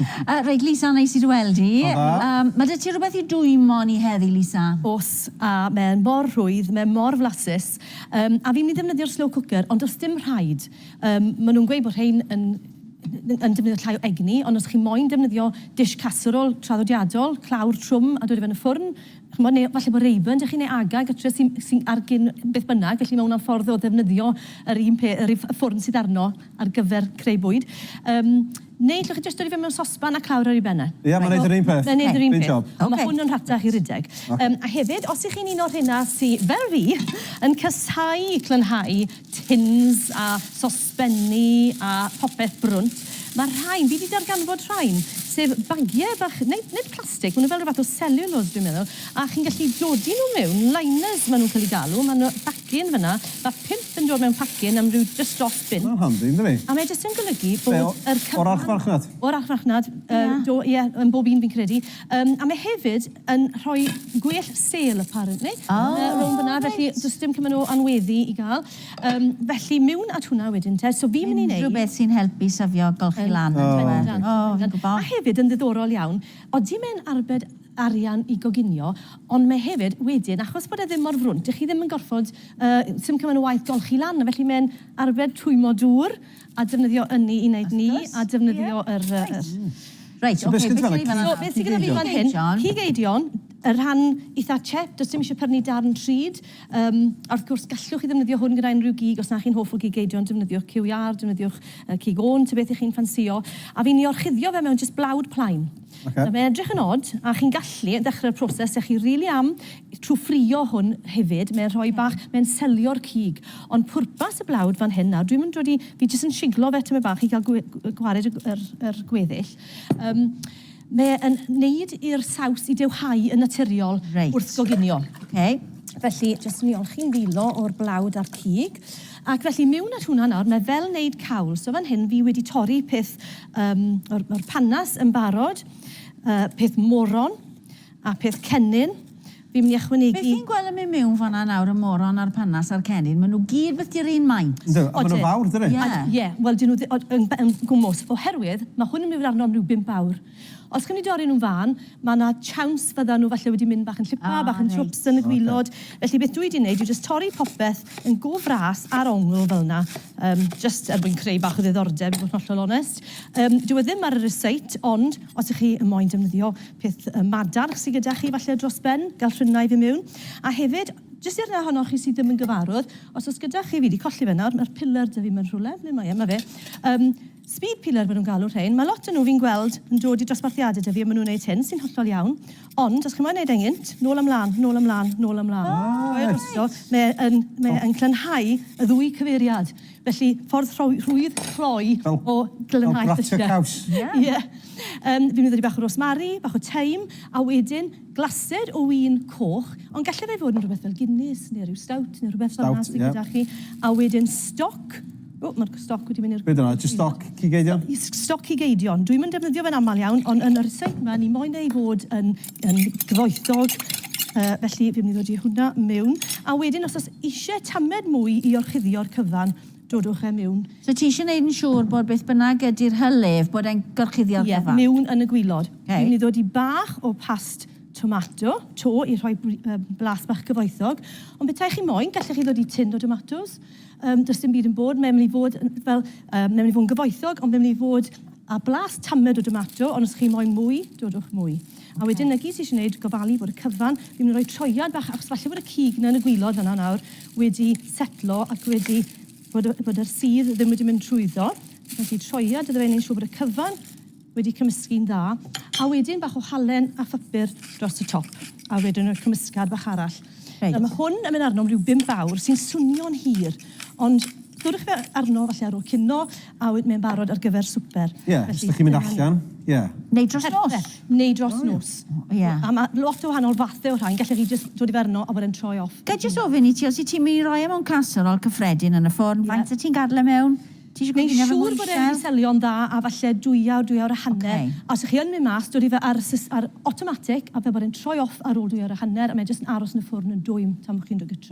Yy reit Lisa, neis i dy weld di. Pnawn da. Yym, ma' 'da ti rwbeth i dwymo ni heddi Lisa? Oes, a mae mor rhwydd, mae mor flasus. Yym, a fi'n mynd i ddefnyddio'r slow cooker, ond does dim rhaid. Yym, maen nhw'n gweud bod rhein yn yn defnyddio llai o egni, ond os chi moyn defnyddio dish casserole traddodiadol, clawr trwm a dod i fe yn y ffwrn, chimod, neu falle bod Rayburn 'da chi neu Aga gytre sy'n sy'n ar gyn beth bynnag, felly mae hwnna'n ffordd o ddefnyddio yr un pe- yr un ff- ffwrn sydd arno. ar gyfer creu bwyd. Yym, neu allwch chi jyst dodi fe mewn sosban a clawr ar ei ben e. Ie, mae'n neud yr un peth. Mae'n neud yr un peth. Great job. Ond ma' hwn yn rhatach i rydeg. Yym, a hefyd, os 'y chi'n un o'r rheina sy, fel fi, yn casáu clynhau tins a sosbenni a popeth brwnt, ma' rhain, fi 'di darganfod rhain, sef bagie bach, nid, nid plastic, ma' nw fel ryw fath o cellulose dwi'n meddwl, a chi'n gallu dodi nw mewn, liners ma' nw'n ca'l 'u galw, ma' nw, Dyn fyna, mae pump yn dod mewn pacyn am ryw jyst dros bunt. Mae'n handi, yn dydi? A mae jyst yn golygu bod yr cyfan... Lle, o'r archfarchnad? O'r archfarchnad, do, ie, yn bob un fi'n credu. Yym, a mae hefyd yn rhoi gwell sêl, apparently, rownd fyna, felly does dim cymaint o anweddu i gael. Yym, felly miwn at hwnna wedyn te. So fi'n mynd i wneud... Unrhyw beth sy'n helpu syfio golchi lan, yn dyw e? O, fi'n gwybod. A hefyd, yn ddiddorol iawn, odi mae'n arbed... arian i goginio, ond mae hefyd wedyn, achos bod e ddim mor frwnt, dych chi ddim yn gorfod, yy, sim cymaint o waith golchi lan, felly mae'n arbed twymmo dŵr a defnyddio ynni i wneud ni, a defnyddio yr, yy, yr... Reit, ocê, beth sydd gyda fi fan hyn? So, beth sydd gyda fi fan hyn, cig eidion, y rhan eitha chep, does dim eisiau prynu darn trud, yym, a wrth gwrs, gallwch chi ddefnyddio hwn gyda unrhyw gig, os na chi'n hoff o gig eidion, defnyddiwch ciwiar, defnyddiwch cig ôn, ta beth y'ch chi'n ffansïo, a fi'n ei orchuddio fe mewn jyst blawd plaen. Ok. Mae fe'n edrych yn od, a chi'n gallu dechrau'r proses, dach chi rili am trwy ffrio hwn hefyd, mae'n rhoi bach, mae'n selio'r cig. Ond pwrpas y blawd fan hyn nawr, dwi'm yn dod i, fi jyst yn siglo fe tymed bach i gael gwe- gw- gwared y, yr, yr gweddill. Um, mae'n neud i'r saws i dewhau yn naturiol Reit. wrth goginio. Okay. Felly, jyst mi olchi'n ddilo o'r blawd a'r cig. Ac felly, mewn at hwnna nawr, mae fel neud cawl. So fan hyn, fi wedi torri peth Yym, mae'r, mae'r panas yn barod. Yy, peth moron, a peth cennin. Fi'n mynd i ychwanegu... Beth fi'n gweld yn mynd miwn fan'na nawr, y moron a'r panas a'r cennin, ma' nhw gyd beth di'r un maint. Yndw, a ma' nhw'n fawr, dydyn? Ie. A, ie, wel 'dyn nhw ddi- o- yn b- yn gwmws, oherwydd ma' hwn yn mynd i fod arno am ryw bump awr. Os chi'n mynd i dorri nhw'n fân, ma' 'na tsiawns fyddan nhw falle wedi mynd bach yn llipa... O reit. ...bach yn tsiwps yn y gwilod. Ocê. Felly beth dwi 'di neud yw jyst torri popeth yn go fras ar ongl fel 'na, yym jyst er mwyn creu bach o ddiddordeb i fod yn hollol onest. Yym dyw e ddim ar y rysáit ond os 'ych chi yn moyn defnyddio peth yy madarch sy gyda chi falle dros ben, gall rhwyna i fy miwn. A hefyd, jyst i'r rhai ohonoch chi sy ddim yn gyfarwdd, os o's gyda chi, fi 'di colli fe nawr, ma'r piler 'da fi 'ma yn rhywle, ble mae e, 'ma fe, yym Speed peeler maen nhw'n galw rhein. Mae lot o nhw fi'n gweld yn dod i dosbarthiadau 'da fi a maen nhw'n wneud hyn, sy'n hollol iawn. Ond, os chi moyn wneud e'n gynt, nôl a mlaen, nôl a mlaen, nôl a mlaen. Ah, reit. Drwy'r noson, mae e yn, mae e yn clynhau y ddwy cyfeiriad. Felly, ffordd rhoi- rhwydd cloi o glynnhau llysiau. Fel gratio caws. Ie. Ie. Yym, fi'n mynd i ddod i bach o rosemary, bach o thyme, a wedyn, Glasur o win coch, ond gallai fe fod yn rhywbeth fel Guinness neu ryw Stout neu rhywbeth fel 'na sy gyda chi. A wedyn stoc, o mae'r stoc wedi mynd i'r... Be 'di hwnna, jyst stoc cig eidion? Stoc cig eidion, dwi'm yn defnyddio fe'n aml iawn ond yn yr seit 'ma ni moyn e i fod yn yn gyfoethog felly fi'n mynd i ddodi hwnna miwn. A wedyn os o's isie tamed mwy i orchuddio'r cyfan, Dodwch e miwn. So ti isio neud yn siŵr bod beth bynnag ydi'r hylif bod e'n gorchuddio'r cyfan? Ie, miwn yn y gwilod. Ok. Dwi'n mynd i ddod i bach o past tomato 'to i rhoi blas bach cyfoethog, ond petai chi moyn, gallech chi ddod i tin o domatos, um, does dim byd yn bod, mae'n mynd i fod yn, fel, um, mae'n mynd i fod yn gyfoethog, ond mae'n mynd i fod a blas tamed o domato, ond os chi moyn mwy, dodwch mwy. A wedyn na gyd ti isie neud, gofalu bod y cyfan, fi'n myn' i roi troiad bach achos falle bod y cig 'na yn y gwilod fan'na nawr wedi setlo ac wedi bod y bod yr sudd ddim wedi mynd trwyddo. Felly troiad iddo fe neud siŵr bod y cyfan wedi cymysgu'n dda. A wedyn bach o halen a phupur dros y top. A wedyn y cymysgad bach arall. Reit. Nawr ma' hwn yn myn' arno am ryw bump awr sy'n swnio'n hir ond dwrwch fe arno falle ar ôl cino A oedd mae'n barod ar gyfer swper. Ie, os dych chi'n mynd allan, ie. Neu dros nos. Perffaith. Neu dros nos. Ie. A mae lot o wahanol fathau o rhain, gallech chi jyst dod i fe arno a bod e'n troi off. Ga i jyst ofyn i ti, os wyt ti'n mynd i roi e mewn casserole cyffredin yn y ffwrn, faint wyt ti'n gadel e mewn? Ti eisiau goginio fe mor isel? Mae'n siŵr bod e'n mynd i selio'n dda a falle dwy awr, dwy awr a hanner. A os ych chi yn mynd mas, dod i fe ar automatic a fel bod e'n troi off ar ôl dwy awr a hanner a mae e jyst yn aros yn y ffwrn yn dwym tan bod chi'n rhoi gytre.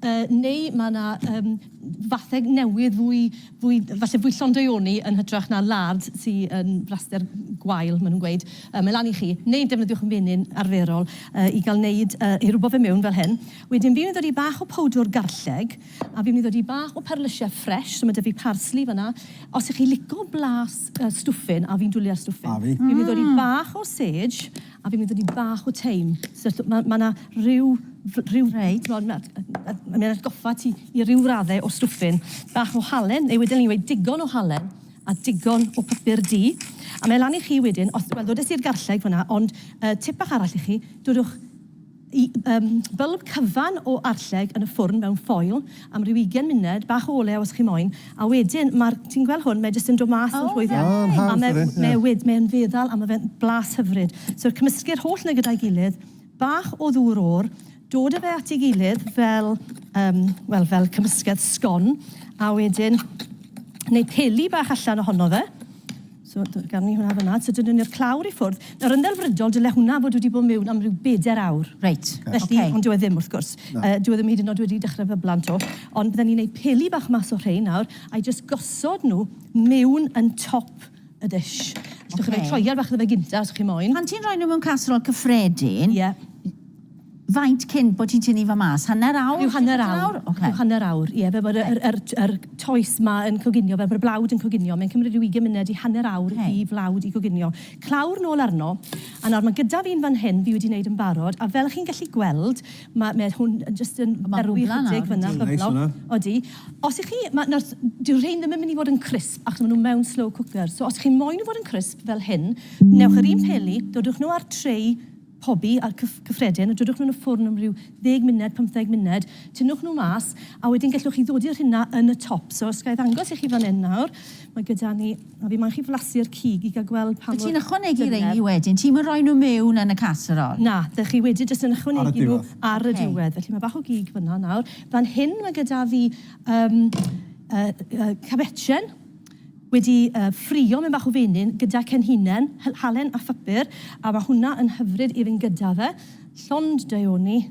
Yy, neu ma' 'na, yym, fatheg newydd fwy, fwy, falle fwy llond-deuoni yn hytrach na lard sy yn flaster gwael, ma' nhw'n gweud. Yy, mae lan i chi. Neu defnyddiwch menyn arferol yy i gael wneud, yy, i rwbo fe mewn fel hyn. Wedyn fi'n mynd i ddod i bach o powdwr garlleg, a fi'n mynd i ddod i bach o perlysiau ffresh, so ma' 'da fi parsli fan'na. Os y'ch chi lico blas yy stwffyn, a fi'n dwli ar stwffyn. A fi. Fi'n mynd i ddod i bach o sage. A fi'n mynd i ni bach o teim. So, so mae ma yna rhyw... rhyw... Reit. Mae yna ma atgoffa ti i ryw raddau o stwffyn. Bach o halen, neu wedyn ni'n dweud digon o halen a digon o papur du. A mae lan i chi wedyn, os... Wel, ddodes i'r garlleg fanna, ond uh, tip bach arall i chi, dodwch Y um, bylb cyfan o arlleg yn y ffwrn mewn ffoil am ryw 20 munud, bach o olew os chi moyn, a wedyn mae'r, ti'n gweld hwn, mae jyst yn dod mas yn oh, rhwydd iawn. Oh, a mae mae e wed, mae'n feddal a mae fe'n blas hyfryd. So cymysgu'r holl na gyda'i gilydd, bach o ddŵr o'r, dod â fe at ei gilydd fel, um, well, fel cymysgedd sgon, a wedyn neu peli bach allan ohono fe, So, gawn ni hwnna fanna. So, dynwn ni'r clawr i ffwrdd. Nawr, yn ddelfrydol, dyle hwnna fod wedi bod mewn am ryw bedair awr. Reit, ok. Felly, ond dyw e ddim, wrth gwrs. Dyw e ddim hyd yn oed wedi dechrau fyblan 'to. Ond bydden ni'n wneud peli bach mas o rhein nawr, a'i jyst gosod nhw mewn yn top y dish. Allwch chi roi troiad bach iddo fe gynta, os chi moyn. Pan ti'n rhoi nhw mewn casserole cyffredin... Ie. Faint cyn bod ti'n tynnu fo mas? Hanner awr? Rhyw hanner awr. Ocê. Rhyw hanner awr, ie. Fel bod y yr yr yr toes 'ma yn coginio, fel bod y blawd yn coginio. Mae'n cymryd rhyw ugain munud i hanner awr i flawd i goginio. Clawr nôl arno. A nawr, mae gyda fi un fan hyn fi wedi wneud yn barod, a fel chi'n gallu gweld, ma' ma' hwn yn jyst yn berwi chydig fan'na. Ma'n rwbla nawr, yndi? Odi. Os 'ych chi... ma' nawr, dyw rhein ddim yn mynd i fod yn crisp, achos ma' nhw mewn slow cooker. So, os chi moyn nhw fod yn crisp, fel hyn, newch yr un peli, dodwch nhw â'r tray pobi a'r cyff cyffredin a dodwch nhw yn y ffwrn am ryw ddeg munud, pymtheg munud, tynnwch nhw mas a wedyn gellwch chi ddodi'r rhina yn y top. So os ga i ddangos i chi fan 'yn nawr, mae gyda ni, a fi moyn chi flasu'r cig i ga'l gweld pa mor dyfnder. Wyt ti'n ychwanegu rheini wedyn? Ti'm yn rhoi nhw mewn yn y casserole? Na, dych chi wedi jyst yn ychwanegu nhw ar y diwedd. Felly mae bach o gig fan'na nawr. Fan hyn mae gyda fi yym yy yy cabetshyn. wedi ffrio mewn bach o fenyn gyda cenhinen, halen a phapur a ma hwnna yn hyfryd i fynd gyda fe, llond deuoni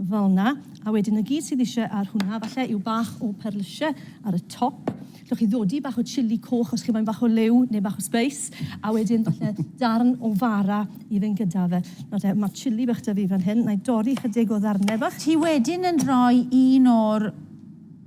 fel na a wedyn na gyd sydd isie ar hwnna falle yw bach o perlysie ar y top, allwch chi ddodi bach o chili coch os chi moyn bach o liw neu bach o sbeis a wedyn falle darn o fara i fynd gyda fe. Nawr te ma chili bach da fi fan hyn, na i dorri chydig o ddarne bach. Ti wedyn yn rhoi un o'r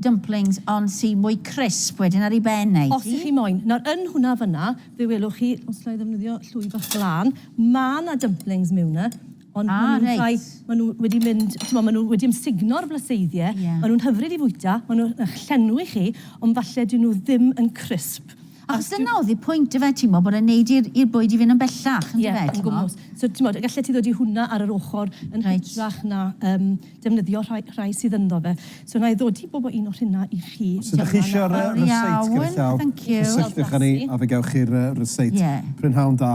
Dumplings ond sy mwy crisp wedyn ar ei ben ei. Os chi moyn. Nawr yn hwnna fyna fe welwch chi, os alla i ddefnyddio llwy bach glân, ma' 'na dumplings miwn 'na ond ma' nhw'n rhai... Ah reit. ...ma' nhw wedi mynd, t'mod ma' nhw wedi ymsugno'r blaseiddiau, ma' nhw'n hyfryd i fwyta, ma' nhw'n y'ch llenwi chi ond falle 'dyn nhw ddim yn crisp. Achos dyna oedd y pwynt ife, ti'n gwybod, bod e'n wneud i'r, i'r bwyd i fynd yn bellach, yn dyfe, ti'n gwybod? Ie, yn gwmws. So, ti'n gwybod, gallet ti ddod i hwnna ar yr ochr yn hytrach na yym defnyddio rhai, rhai sydd ynddo fe. So, wna i ddod i bob o un o rheina i chi. Os ydych chi eisiau'r yy ryseit gyda llaw, cysylltwch â ni a fe gewch chi'r yy ryseit. Ie. Prynhawn da.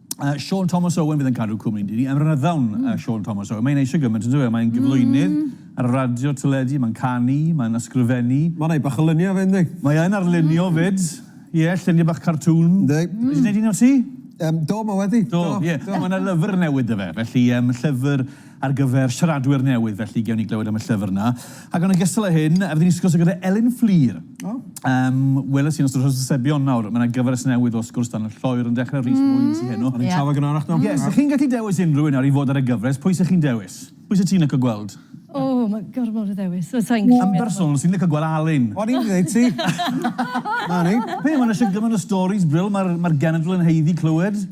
Uh, Sean Thomas Owen fydd yn cadw cwmni ni. Yn ryddawn, mm. uh, Sean Thomas Owen. Mae'n eisiau gymaint yn dweud. Mae'n hmm. gyflwynydd mm. ar y radio, teledu, mae'n canu, mae'n ysgrifennu. Mae'n ei bach o lunio fe, ynddi? Mae e'n arlunio mm. fyd. Ie, yeah, lluniau bach cartŵn. Ynddi. Mm. Ti'n gwneud un o ti? Um, do, mae wedi. Do, ie. Yeah. Mae'n lyfr newydd dy fe. Felly, um, llyfr ar gyfer siaradwyr newydd, felly gewn ni glywed am y llyfr yna. Ac yn ogystal â hyn, rydyn ni'n sgwrsio gyda Elin Fflur. Oh. Um, Weles i'n ystod hysbysebion nawr, mae yna gyfres newydd o sgwrs dan y lloer yn dechrau Rhys mm. Mwyn sy'n heno. O'n i'n yeah. trafod gynharach nawr. Yes, yeah. chi'n gallu dewis unrhyw un nawr i fod ar y gyfres, pwy sy'ch chi'n dewis? Pwy sy'n ti'n licio gweld? O, oh, mae gormod o ddewis. Yn bersonol, sy'n licio gweld Alun. O'n i'n dweud ti. Na ni. Pe, mae'n eisiau gymaint o stories, Bril, mae'r ma genedl yn heiddi clywed.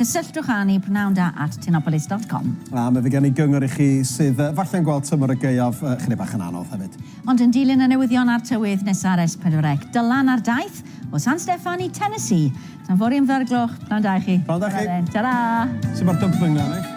Cysylltwch â ni pnawn da at tinopolis dot com. A mi fydd gen i gyngor i chi sydd falle'n gweld tymor y gaeaf chydig bach yn anodd hefyd. Ond yn dilyn y newyddion a'r tywydd nesa'r Es Pedwar Ec, Dylan ar daith o San Steffan i Tennessee. Tan fory am dair gloch, pnawn da i chi. Pnawn da chi. Ta-ra! Sut mae'r dumpling na, Nick?